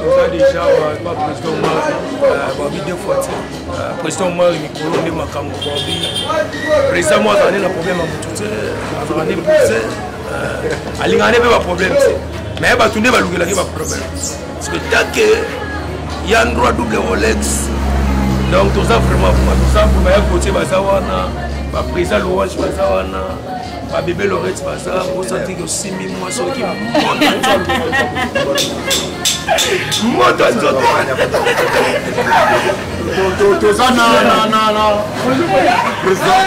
toza déjà ba président omar babi deux fois ti président omar mikolo nde makambo babi président mo azala nde na problème ya motu te azala nde buse alingaka nde mpe baproblème te mais bato nde balukelaki baproblème spectacle ya ndroit double rolex donc toza vraiment kuma toza mpona ya kotie baza wana baprésa louange baza wana babebe lorete baza osantiki osimbi mwa soki moto ya nzoto toza na président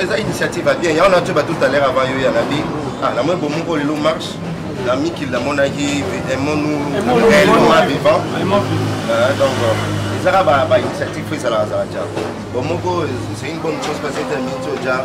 eza initiative ya bien yango na ntoyeba tout à l'heure avant yo ya nabi ah, namoni bomoko lelo marche na mikili namonaki emonu réellement vivant ah, donc euh, ezaka bainitiative fo ezalaka zala ja bomoko c'est une bonne chose parce que minti oja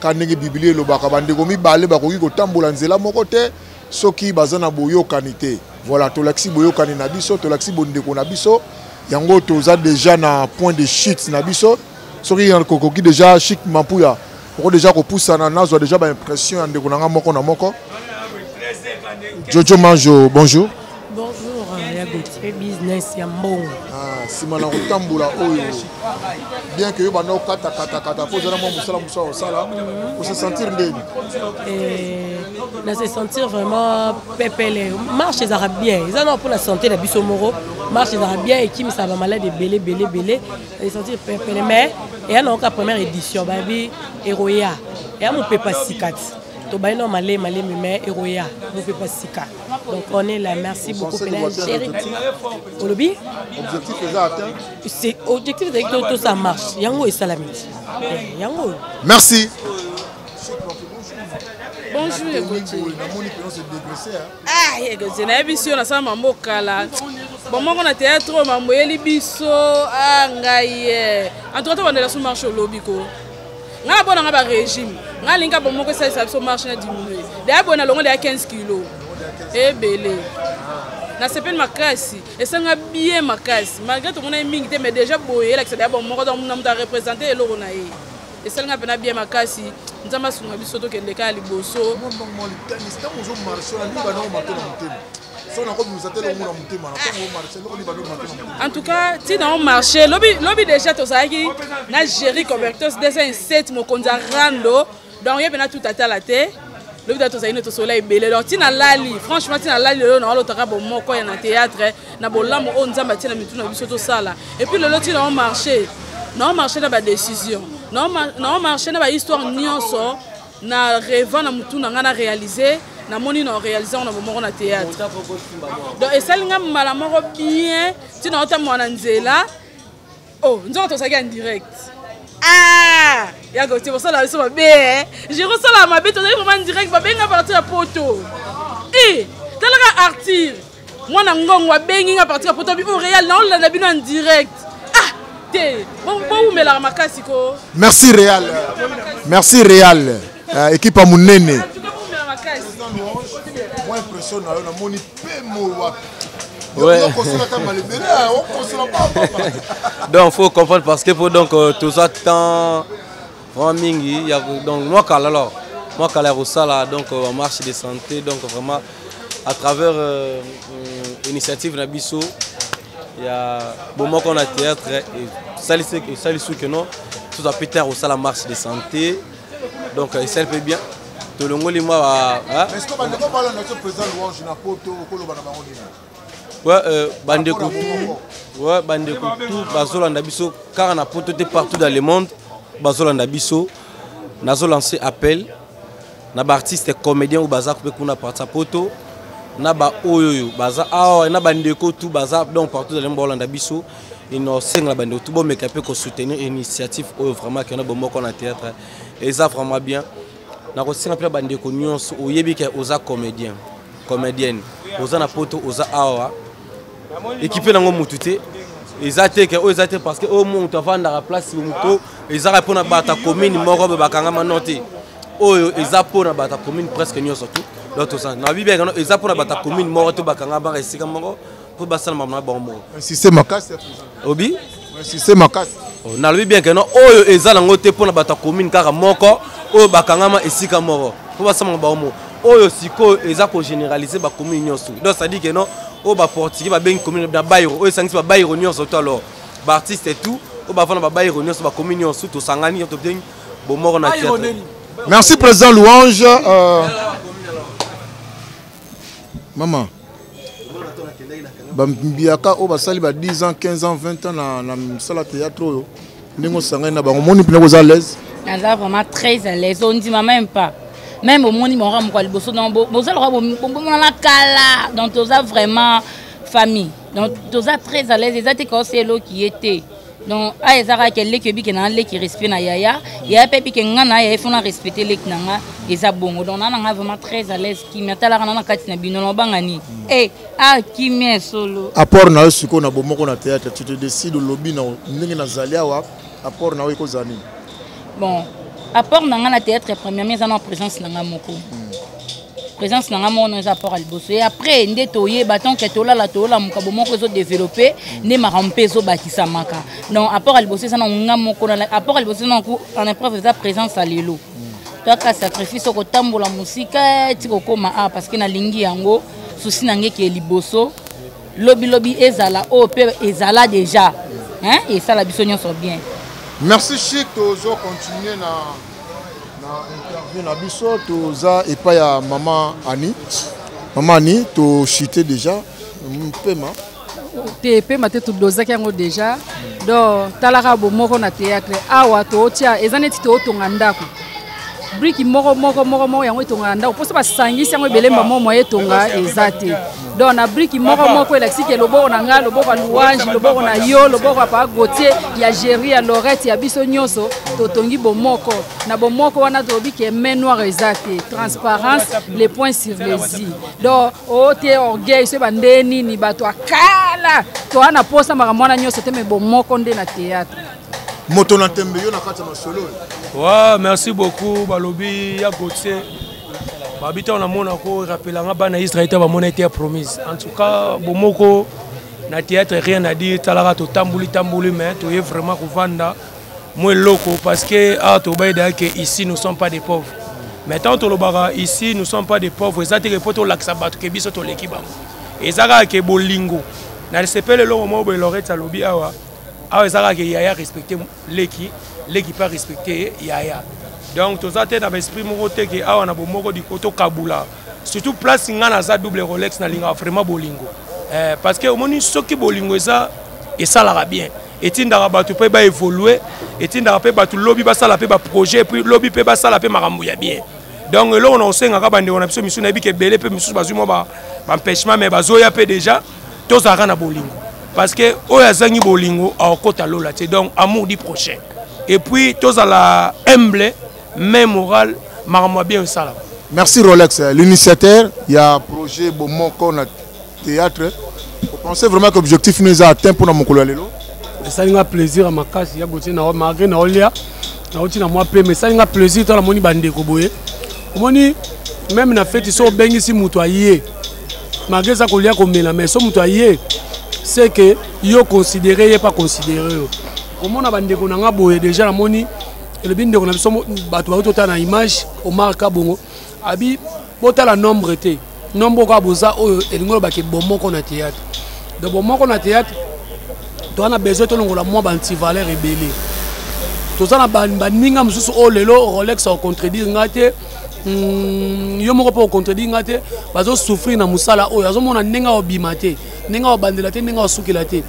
Kaka ndenge Biblia elobaka, bandeko mibale bakoki kotambola nzela moko te soki baza na boyokani te. Voilà, tolakisi boyokani na biso, tolakisi bondeko na biso. Yango toza deja na point de chute na biso. Soki kokoki deja Chic Mampuya, oko deja kopusana, nazwa deja ba impression ya ndeko na nga moko na moko. Jojo Manjo, bonjour. Bonjour, euh, ya Gauthier, business ya mbongo. Ah, sima na kotambola oyo. Bien que yo banda okata kata kata po zala mwa musala musa osala, mhm. o se sentir ndeni. Eh, na se sentir vraiment pepele. Marche ezaka bien. Eza na pona santé na biso moko. Marche ezaka bien et qui me ça va malade belé belé belé. Na se sentir pepele mais et ya na première édition babi eroya. Ya mo pepa sikati. To baino malé malé mais eroya mo pepa sikati. Donc on est là, merci beaucoup Pena Chéri. Olobi Objectif est atteint. C'est objectif c'est que tout ça marche. Yango et salami. Eh, yango. Merci. Bonjour Egoje. Ah Egoje, na yebi sio na sala mambo kala. Bon moko na théâtre mambo yeli biso ah ngai. Eh. En tout cas, on est là sur marche au lobby ko. nga na bona nga ba régime nga linga bo moko ça ça so marche na diminuer d'ailleurs bona longo de 15 kg ebele na sepeli makasi esanga bien makasi malgré to mona mingi te mais déjà boye la que ça d'ailleurs bon moko donc na muta représenter eloko na ye esalanga mpena bien makasi nzambe asunga biso tokende kaka liboso en tout cas ntina o marché lobi, lobi déjà tozalaki na géri cobertos 207 mokonzi ya rando donc ye mpena tout atala te lobi da tozali nde tosola ebele donc ntina lali franchement ntina lali lelo na olotaka bomoko ya na théâtre na bolamu oyo nzambe atie na mitu na biso tosala epuis lelo ntina o marché na o marché na badécision na o marché na bahistoire nyonso na revant na mutu na ngai na réalise namoni na réalise yango na bomoko na théâtre donc esali ngai mbala moko bien ntina otambola na nzela o oh, nzoka tozalaki en direct ah! ya gotie bosala biso mabe eh? je kosala mabe tozali vraiment direct babenga parti ya poto e eh, talaka artire mwana ngongo abengi nga parti ya poto bi o real naolanda bino en direct ah te bowumelaka makasi ko merci real merci real uh, ekipe ya monene impression na yo namoni pemo wapi donc faut comprendre parce que faut donc euh, tout ça temps vraiment mingi ya donc mwa kala alors mwa kala ya kosala donc euh, marche de santé donc vraiment à travers euh, euh, initiative na biso ya bomoko na théâtre esalisi esalisi que non tout à plus tard kosala marche de santé donc esali mpe bien tolongoli mwa ba Ouais, euh, bandeko tout, ouais, bandeko tout bazolanda biso kaka na poto te partout dans le monde bazolanda biso nazo lancer appel na baartiste comédien oyo baza mpe kuna parti ya poto na baoyo oyo baza awa na bandeko tout baza donc partout dans le monde baolanda biso inosenga na bandeko tout bomeka mpe kosoutenir initiative oyo vraiment kena bomoko na théâtre eza vraiment bien nakosenga mpe na bandeko nyonso oyebi ke oza comédien comédienne oza na poto oza awa ekipe nango motu te eza te ke oyo eza te parce que oyo motu avandaka place moto ezaka mpo na bato ya commune moko boye bakangama no te oyo eza mpo na bato ya commune presque nyonso tu donc toza na bibiakano eza mpo na bato ya commune moko to bakangama esika moko mpo basala makambo na bango moko insiste makasi obi insiste makasi oh, nalobi bien ke no oyo eza nango te mpo na bato ya commune kaka moko oyo bakangama esika moko mpo basala makambo bango moko oyo sikoyo eza kogeneralise bacommune nyonso donc cestadire ke no oyo baportugais babengi commune na bairo oyo esangisi babairo nyonso to alors baartiste et tout oyo bavanda babairo nyonso bacommune nyonso tosangani tobengi bomoko na theatre merci président louange euh... mama bambiyaka oyo basali ba 10 ans 15 ans 20 ans na, na mosala théâtre oyo ndenge osangani na bango omoni mpena koza alaise naza vraiment très alaise ondima même pas même omoni bango moko ya liboso donc boza loka bomonana kala donc toza vraiment famille donc toza très alaise eza te kaosi eloki ye te donc aya eza kaka ke leki oyebike na nga leki respect na yaya yaya mpe yebike nga na yaya efona respecte leki na nga eza bongo donc na na nga vraiment très à l'aise kimia talaka na na kati na bino nobanga nini mm. e eh, a ah, kimia solo apport na yo sikoyo na bomoko na théâtre tu te décide olobi na ndenge nazali awa apport na yo ekozala nini bon apport na nga na théâtre premièrement eza na présence na nga moko mm. présence na ngai moko no eza apport ya liboso e après nde toyeba tanke tolala toola mokabo moko ezodeveloppe nde makambo mpe ezobakisamaka donc apport ya liboso eza na ngai moko apport ya liboso eza na en épreuve eza présence ya lelo toyaka sacrifice okotambola mosika ti kokóma a parce que nalingi yango susi na ngai ke liboso lobilobi ezala oyo oh, mpe ezala déjà esala biso nyonso bien merci chic tozo continue na na interview na biso toza epai ya mama ani mama ani tochute déjà mpema te mpema te todozaki yango déjà donc talaka bomoko na théâtre awa tootia eza neti tootonga ndako briki moko moko moko moko yango etongaka ndako mposo basangisi yango ebele mbamo moye etonga eza te donc na briki moko moko elakisi ke loboko na ngai loboko ya louange loboko na yo loboko ya papa gautier ya géri ya lorette ya biso nyonso totongi bomoko na bomoko wana tolobi ke main noire eza te transparence le point sur les i donc ote oh, orgueil soki bandee nini bato akala toa na mposa makambo wana nyonso te me bomoko nde na théâtre moto na tembe yo na kati ya masolo oyo wa merci beaucoup balobi ya gautier babi ntango namona ko rappelanga bana israel te bamona ete ya promise en tout cas bomoko na théâtre rien à dire talaka totamboli tamboli mais toye vraiment kovanda mwa eloko parce que awa tobayedaka ke ici nous sommes pas des pauvres mais ntango tolobaka ici nous sommes pas des pauvres eza teke mpo tolakisa bato ke biso toleki bango eza kaka ke bolingo na lisepele eloko moko boye lorete alobi awa awa eza kaka ke yaya respecte leki leki mpe arespecte yaya donc toza te na baesprit moko te ke awa na bomoko diko tokabula surtout place ngai naza double rolex nalingaka vraiment bolingo eh, parce que omoni soki bolingo eza esalaka bien etindaka bato mpe baévolue etindaka mpe bato lobi basala mpe baprojet epuis lobi mpe basala mpe makambo ya bien donc eloko na kosengaka bandeko na biso misusu nayebi ke ebele mpe misusu bazwi mwa baempêchement mais bazoya mpe déjà tozalaka na bolingo parce que oyo azangi bolingo akokota lola te donc amour du prochain et puis tozala humble mais moral makambo ya bien esalaka merci rolex l'initiateur ya projet bomoko na théâtre opensez vraiment que objectif no eza atteint mpona mokolo ya lelo esali nga plaisir ya makasi ya gotie nao malgré naolia nauti na mwa pema esali nga plaisir to namoni bandeko boye omoni meme na feti so obengisi moto aye malgré eza kolia komela mais so moto aye c'est que yo considéré ye pas considéré yo komona bandeko na nga boye déjà namoni elobi ndeko na biso bato bayo totala na image omar kabongo abi botala nombre te nombre kaka boza oyo elingi olobake bomoko na théâtre donc bomoko na théâtre toza na besoin tolongola mwa bantivaleur ebele toza na baninga mosusu oyo lelo rolex akontredire ngai te Hmm, yo moko mpe ocontredire nga te bazosouffrir na mosala oyo azomona ndenge aobima te ndenge aobandela te ndenge aosukela te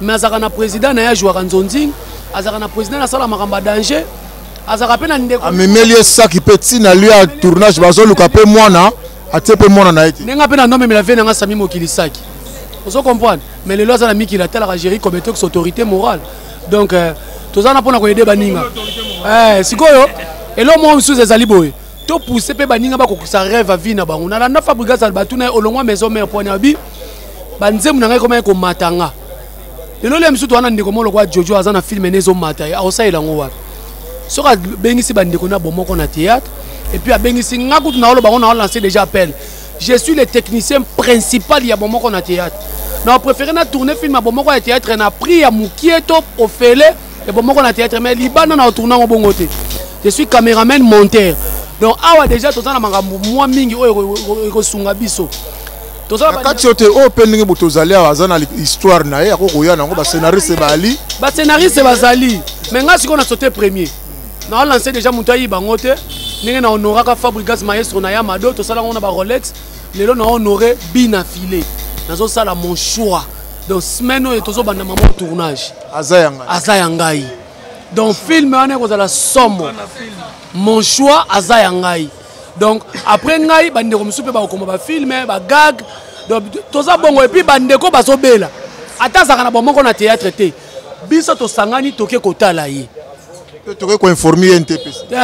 mais azalaka na président na ye ajouaka nzonzing azalaka na président na asala makambo ya danger azalaka mpe na ndeko amemeli ye saki mpe ntina lio ya tournage bazoluka mpe mwana atie mpe mwana na ye te ndenge mpe na nomemela vie na nga sami mokili saki ozo comprendre mais lelo aza na mikili atalaka géri comme etox autorité morale donc euh, toza na mpona koyede baninga eh, sikoyo eloko moko mosusu ezali boye topousse mpe baninga bakokisa rêve ya vie na bango nalanda fabrigas albatu na ye olongwa maison mare pwani ya bi banzembo na ngai ekomaki komata nga lelo lia mosusu wana ndeko moko lokola jojo aza na filme ne ezomata ye akosalela yango wapi soki abengisi bandeko na bomoko na théâtre epuis abengisi nga kutu naoloba yango naolanse déjà appel je suis le technicien principal ya bomoko na théâtre na préféré na tourne film ya bomoko ya théâtre na prix ya mokie to ofele ya bomoko na théâtre mais libanda na otourne yango bongo te je suis caméraman monteur donc awa déjà toza na makambo mwa mingi oyo ekosunga biso kati te oyo mpe ndenge moto ozali awa aza na histoire na ye akokoya nango bascenariste bali bascenariste bazali me ngai sikoyo na sote premier na lance deja moto ayiba yango te ndenge na honoraka fabrigas maestro na ya mado tosala yango na ba rolex lelo na honore bina filet nazosala mon choix donc semaine oyo tozobanda mama tournage aza ya ngai aza ya ngai donc film wana ekozala somo mon choix aza ya ngai donc après ngai bandeko mosusu mpe bakokoma bafilme bagag toza bongo epuis bandeko bazobela ata azalaka na bomoko na théâtre te biso tosangani toke kotala ye toke koinforme ye ntpc eh,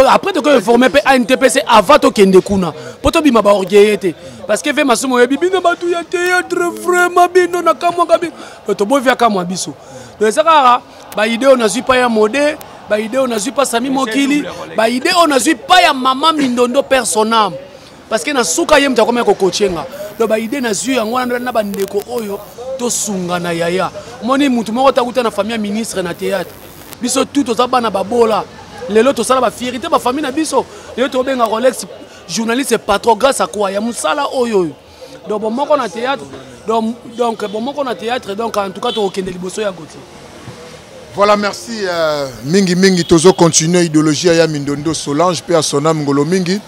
après toke informe mpe a ntpc avant tokende kuna mpo tobima baorgueille te parce que ve masumu oyebi bino bato ya théâtre vraiment bino nakamwaka bino to tobovi akamwa biso donc eza kaka baide oyo nazwi pa ya mode baide oyo nazwi pa sami mokili baide oyo nazwi pa ya mama mindondo personname parce que na suka ye moto akomaki kokoce nga donc baide nazwi yango wana na bandeko oyo tosungana yaya omoni motu moko takuta na famille ya ministre na théâtre biso tu toza bana babola lelo tosala bafierité bafamille na biso lelo tobenga rolex journaliste patron grâce à quoi ya mosala oyo oyo donc bomoko na théâtre donc, donc bomoko na théâtre donc en tout cas tokokende liboso ya gotier Voilà, merci. Euh, mingi Mingi Tozo continue idéologie à Mindondo Solange, puis à Sonam Ngolo Mingi.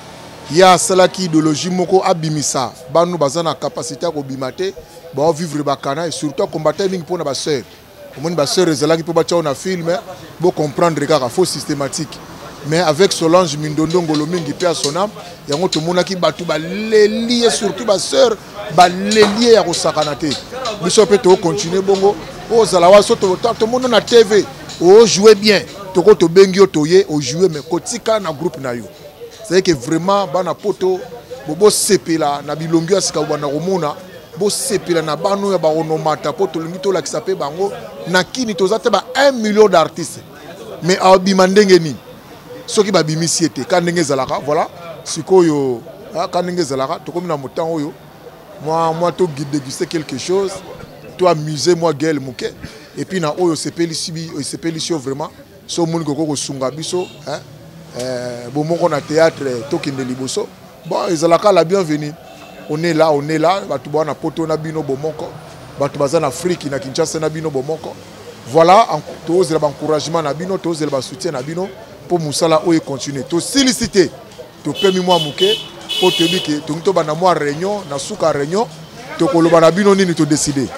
ye asalaki idéologie moko abimisa bano baza na capacité ya kobima te baovivre bakana surtout akombata mingi mpo na basœur omoni basœur ezalaki mpo batya na filme bocomprendre kaka faux systématique mais avec solange mindondo ngolo mingi mpe ya sonam yango tomonaki bato baleli ye surtout basœur baleli ye ya kosakana te biso mpe tokocontinue bongo ozala wa so tomona na tv ojoue bien toko tobengi yo toye ojoue mais kotika na groupe na yo c'est que vraiment bana poto bobosepela na bilongi ya sika bobanda komona bosepela na bana oyo ya baonomata mpo tolingi tolakisa mpe bango na kini toza te ba 1 million d'artiste mais abima ndenge nini soki babimisi ye te ka ndenge ezalaka voilà sikoyo ah, ka ndenge ezalaka tokomi na motango oyo mwa mwa todeguste quelque chose to amuse mwa gele moke epuis na oyo osepelisi yo vraiment so omoni kokoki kosunga biso hein? eh, bomoko na théâtre tokende liboso bon ezalaka la bienvenue on est là on est là bato bana poto na bino bomoko bato baza na afrique na kinshasa na bino bomoko voilà tozela baencouragement na bino tozela basoutien na bino mpo mosala oyo econtinue tosilisi te topemi mwa moke mpo toyebi ke tongi tobanda mwa réunion na suka réunion tokoloba na bino nini todeside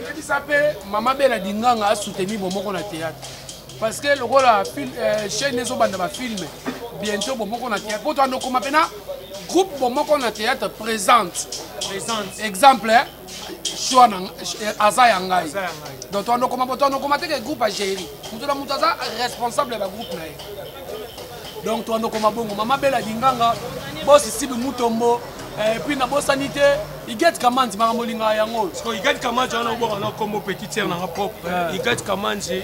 yebisa mpe mama bela dinganga asuteni bomoko na théâtre parce que lokola euh, chaîne ezobanda bafilme bientôt bomoko na théâtre mpo toanda okoma mpena groupe bomoko na théâtre présente exemple eh? choix na eh, aza ya ngai donc toanokoma bo toanokoma te ke groupe agéri moto na moto aza responsable ya bagroupe na ye donc toanokoma bongo mama bela dinganga bosi sibi mutombo eh, epuis nabosani te iget kamanzi makambo olingaka yango iget kamanzi wana obwaka na kombo petit tiere nanga propre iget kamanzi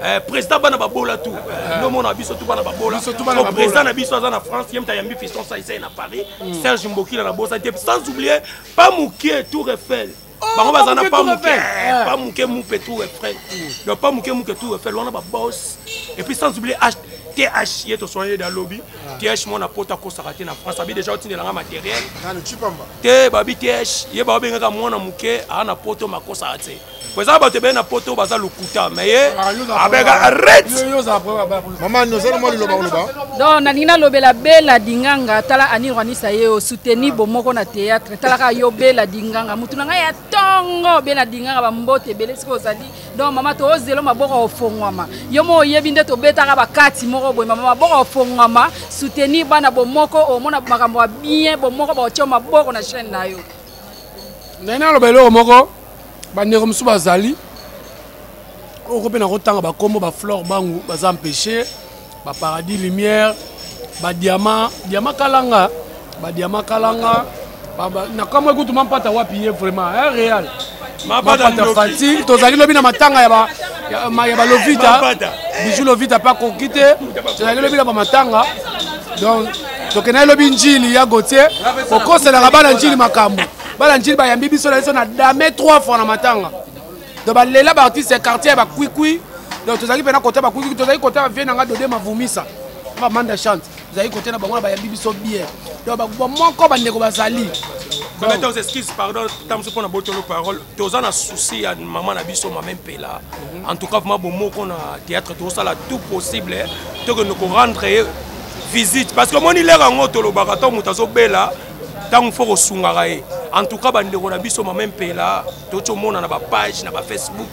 Eh, président bana babola tu eh. nomona biso tu bana babola président na biso aza na france ye moto ayambi fiston saisai na paris hmm. serge mbokila na bosa te sans oublier pa mokie tour eiffel oh, bango baza na pa moke eh, pa moke mupe tour eiffel hmm. donc pa moke muke tour eiffel wana babos et puis sans oublier th ye toswana ye da lobi ah. th mwana poto akosaka te na france abi deja otindela nga matériel te babi th ye baobengaka mwana moke aa na poto makosaka te eza bato ebele na poto baza lokuta me ye abeka arretemamanozalamalilobaolobadon nalingi nalobela bela dinganga tala anirwanisa ye osuteni ah. bomoko na théâtre talaka yo bela dinganga motu na ngai ya ntongo bela dinganga bambote ebele soki ozali don mama toozelo maboko ofongwama yo mo oyebi nde tobetaka bakati moko boye mama maboko ofongwama soutenir bana bomoko omona makambo ya bien bomoko baotio maboko na chaîne na yo nani aloba eloko moko bandeko mosusu bazali oko mpe nakotanga bakombo baflore bangu baza empêche baparadis lumière badiama diama kalanga badiama kalanga nakamwe kutu mampata wapi ye vraiment eh, real mampata fati tozali lobi na matanga ya ba ya balovita bijou lovita mpe akoki te tozali lobi na bamatanga donc tokendaki lobi njili ya gotie kokoselaka bana njili makambo bana njili bayambi biso na biso na dame 3 fois na matanga donc balela baartiste ya quartier ya bakwikwi donc tozalaki mpena kota bakwikwi tozalaki kota bavie na ngai dode mavumisa bamanda chante tozalaki kota na bango na bayambi biso bien donc bamoko bandeko bazali Maintenant, aux excuses, pardon, tant que pour botolo parole, tous en a souci à maman na biso maman pela. Mhm. En tout cas, vraiment bon mot qu'on a théâtre tout ça là tout possible, hein. tout que nous rendre visite parce que mon il est en haut tolo baraton mutazo bella ntango fo kosungaka ye en tout cas bandeko na biso mama mpela toti omona na bapage na bafacebook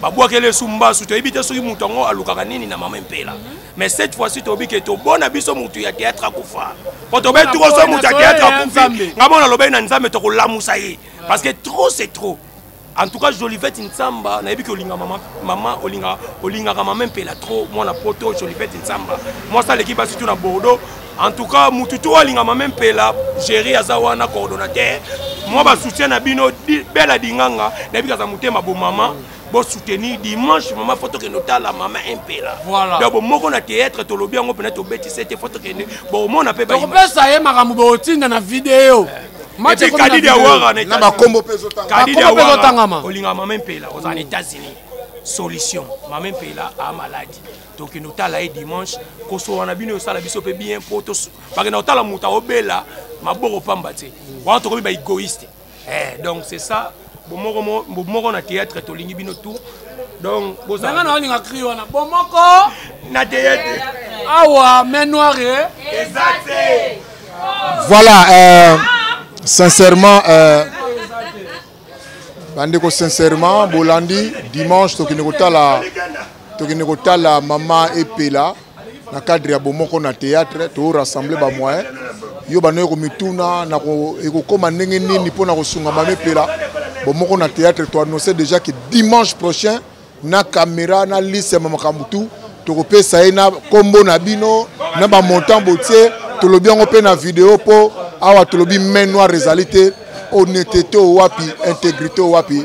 babwakeli esu mbasu toyebi te soki moto yango alukaka nini na mama mpela mais cette fois-ci toyebi ke tobona biso motu ya théâtre akufa po tobe tukoso motu ya théâtre akufi nga mona alobaki na nzambe tokolamusa ye parce que trop c'est trop En tout cas, Jolivette Nsamba, nayebi que olinga maman, maman olinga olinga ka maman pela trop, moi na poto Jolivette Nsamba. Moi ça l'équipe surtout na Bordeaux. En tout cas, mututu olinga maman pela, gérer azawana coordonnateur. Moi ba soutien na bino bela dinganga, nayebi kaza mutema bo maman. Bon soutenir dimanche maman photo que nota la maman impela. Voilà. Donc bon moko na théâtre to lobi yango pena to beti c'était photo que bon mon appel ba. Ko pesa ye makambo bo tinda na vidéo. Eh. Match ekomi na Kadidi ya video. Wara na Na ba kombo pe ezotanga. Kadidi Ba ya kombo pe Wara. ezotangama. Olinga mama mpela oza na États-Unis. Solution. Mama mpela a malade. Tokende otala ye dimanche. Kosoa na bino osala biso pe bien po to bakenda otala moto obela maboko pamba te. Wana tokomi ba égoïste. Eh donc c'est ça. bomoko bomoko na théâtre tolingi bino tout donc boza nanga na olinga cri wana bomoko na théâtre awa main noire eh? eza te voilà euh, sincèrement euh, bandeko sincèrement bolandi dimanche tokende kotala tokende kotala mama epela na cadre ya bomoko na théâtre to rassembler ba moyens yo banoye komituna ekokoma ndenge nini mpo na kosunga mama epela bomoko na théâtre to annonce déjà que dimanche prochain na caméra na liste ya makambo tout tokopesa ye na nkombo na bino na bamontant botie tolobi yango mpe na video mpo awa tolobi main noire ezali te honnêteté oyo wapi intégrité oyo wapi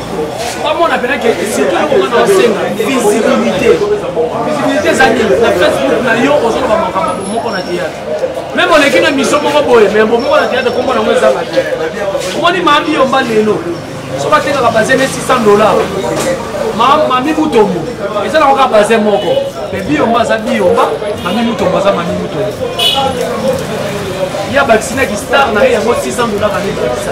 bamona mpena ke surtout eloko nga na osenga visibilité visibilité eza nini na facebook na yo ozoloba makambo bomoko na théâtre meme oleki na miso moko boye me bomoko na théâtre kombo nango ezanga te omoni maami yomba lelo soki atekaka baze ne 600 dollar mami mutombo eza na koka baze moko me biyomba aza biyomba mami mutombo aza mami mutombo ye abakisinaki star na ye yango 600 dollar anebakisa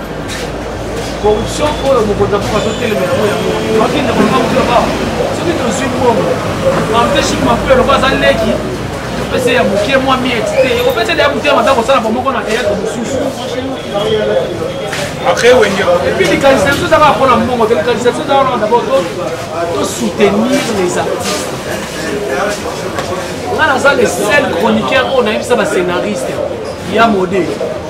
corruption oyo mokonzi ya mboka azotelema yango yango bakende komakuta ba soki tozwi mbongo empêche mampelo lokola aza leki topesa ya moke mwa miete te opesa deya motema mabe kosala bomoko na teyatre mosusu epuis likanisa biso ezaka mpona mbongo te likanisa biso ezaka wana dabord to soutenir les artistes nga naza le seul chroniqueur oyo nayebisa bascénariste ya mode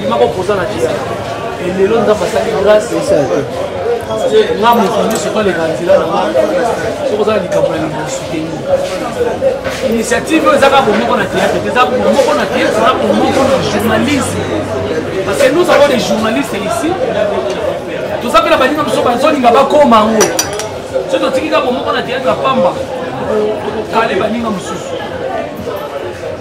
bima kopozana te lelo nzambe asali grâce nga moto nyonso toleka nzela na nga soki ozala likambo na lingi suteni initiative oyo ezaka bomoko na théâtre te eza bomoko na théâtre eza bomoko na journalisme parce que nous avons des journalistes ici toza mpe na baninga mosusu bazolinga bakoma yango soki totikika bomoko na théâtre ya pamba tokokale baninga mosusu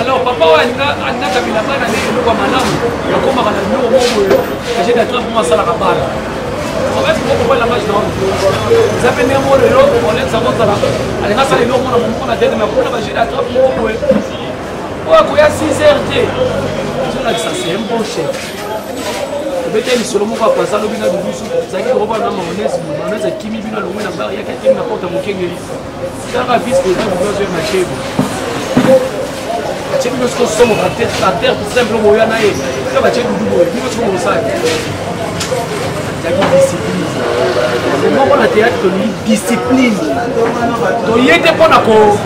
alors papa oyo alinga alinga kabila bana nde eloko ya malamu akomaka na biloko moko boye agene ya trump mo asalaka bana obeti kokoba langage na eza mpe ndenge moko lelo olekisa kozala alinga asala eloko mona momoko na tete me akona bagene ya trump moko boye oyo akoya 6 heure te ozolakisa se un bon chef obeteli lisolo moko apasa lobi na bibusu ezalaki kokoba na maonese maonese akimi bino alongwe na bar yaki akimi na porte mokengeli Kaka vice président du Blanc Vert Machebo. Machebo ndio siko somo par terre par terre tout simple boyo na ye. Kaka Machebo ndio boyo ndio siko mosaki. Yaki discipline. Moko na théâtre tolingi discipline. Toye te mpo na ko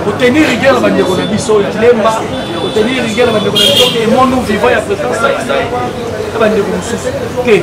kotenir rigueur na bandeko na biso ya lemba kotenir rigueur na bandeko na biso emonu vivant ya président saisai na bandeko mosusu te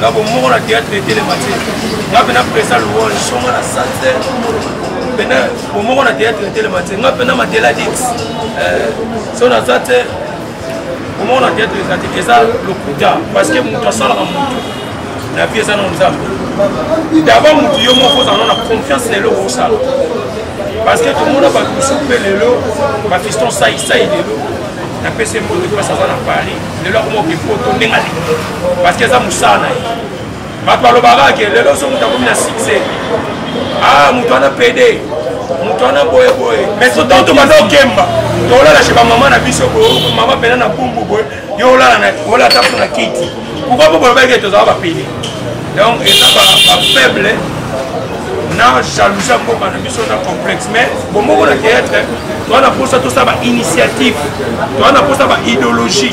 na bomoko na théâtre etelema te nga mpe na presa louange songa na sante mpena bomoko na théâtre etelema te nga mpe na matela dit eh, so naza te bomoko na théâtre eza te eza lokuta parce que moto asalaka moto na vie eza na nzambe d'abord moto yo moko ozala na confiance na eloko osala parce que tomona bato mosusu mpe lelo bafiston saisai lelo napesi mboto mpasi aza na paris lelo akoma okepoto ndenge alingi parce que eza mosala na ye bato balobaka ke lelo oso moto akomi na succès a ah, moto wana pede moto wana boyeboye mais sotan tobanda okemba tolala chez bamama na biso boye mama mpena na bumbu boye yo olala olala ta mpo na kiti pourkoi mpo bolobaki ke tozala bapede donc eza bafaible na jalousie ya mboka na biso na complexe mais bomoko na théâtre toza na mposa tosala bainitiative toza na mposa baidéologie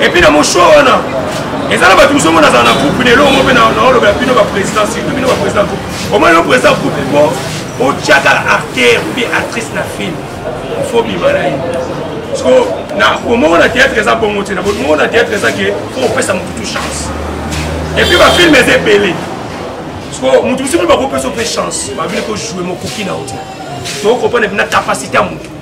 epuis na moshua wana eza na bato mosusu ngo nazala na groupe lelo ngo mpe naoloba ya bino baprésident surtout bino baprésident groupe omoni yo président groupe po otyaka artère mpe actrice na film ifo bima na ye so na omoko na théâtre eza bongo te na bomoko na théâtre eza ke po opesa motu tu chance epuis bafilme eza ebele so motu mosusu mpe bakopesa mpe chance babili kojoue mokoki na yo te tokokompana mpe na capacité ya motu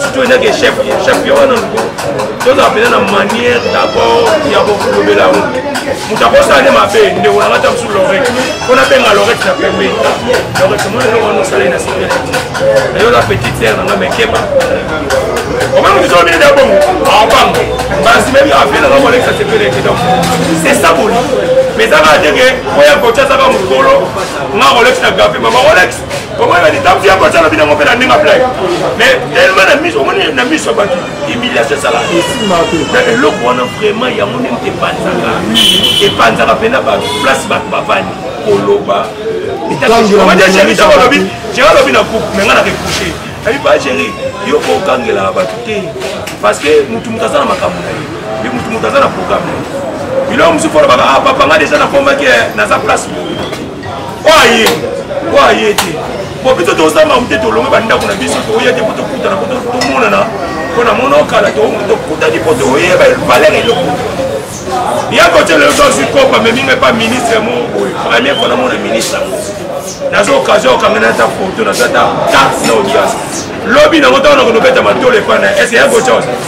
surtout ezaki chef chef yo wana luko tozala mpenza na manière d'accord ya kokolobela yango moto akosala nde mabe ndeko na ngata mosusu lorete mpo nabenga lorete na pembe lorete mona eloko wana osalai na sipele nayo na petite sere na nga mekeba omoni mosusu obini nde bongo aobango mbasi mebi afie na nga molekisa sepele ete donc c'est ça boli mais ezaka ndenge oya kotia azaka mokolo nga kolekisa gafe mama olekisa omoni balitambi ya kosa lobi nango mpe na ndenge blai mais tellement na miso omoni na miso ya bato humiliation esala na eloko wana vraiment yango nde moto epanzaka epanzaka mpe na bato place bato bavandi koloba olobi jera alobi na groupe me ngai na repouche ayi ba jeri yo ko okangela bato te parce que motu moto aza na makambo na ye ye motu moto aza na programme na ye biloko mosusu olobaka ah, papa ngai deja nakomaki eh, naza place oyo aye oyo aye te po biso tozamba mute tolonga bandako na biso toya te po tokutana po tomonana po na mono kala tokutani po toyeba valeur eloko ya kotyela yo tozwi kopa meminga epa ministre mo oyo premier po namona ministre yango naza occasion okangana ata foto naza ata carte na audience lobi nango ntango nakondobeta matolo epa na eske ya kotyao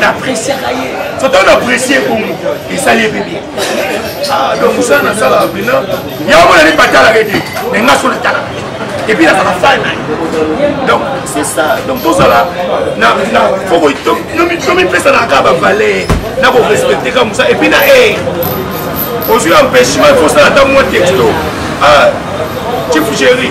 napreciaka ye soto naprecie bongo esali ye mpe bien ah, donc mosala nasalaka mpena yango mona nde batalaka ete na nga so natalaka epuis nazala fan na donc c'est ça donc tozala tomipesanaka kaka bavaler na korespecte kaka mosala epuis na e eh, ozwi empêchement fosala ntango mwa texto ah, chief géri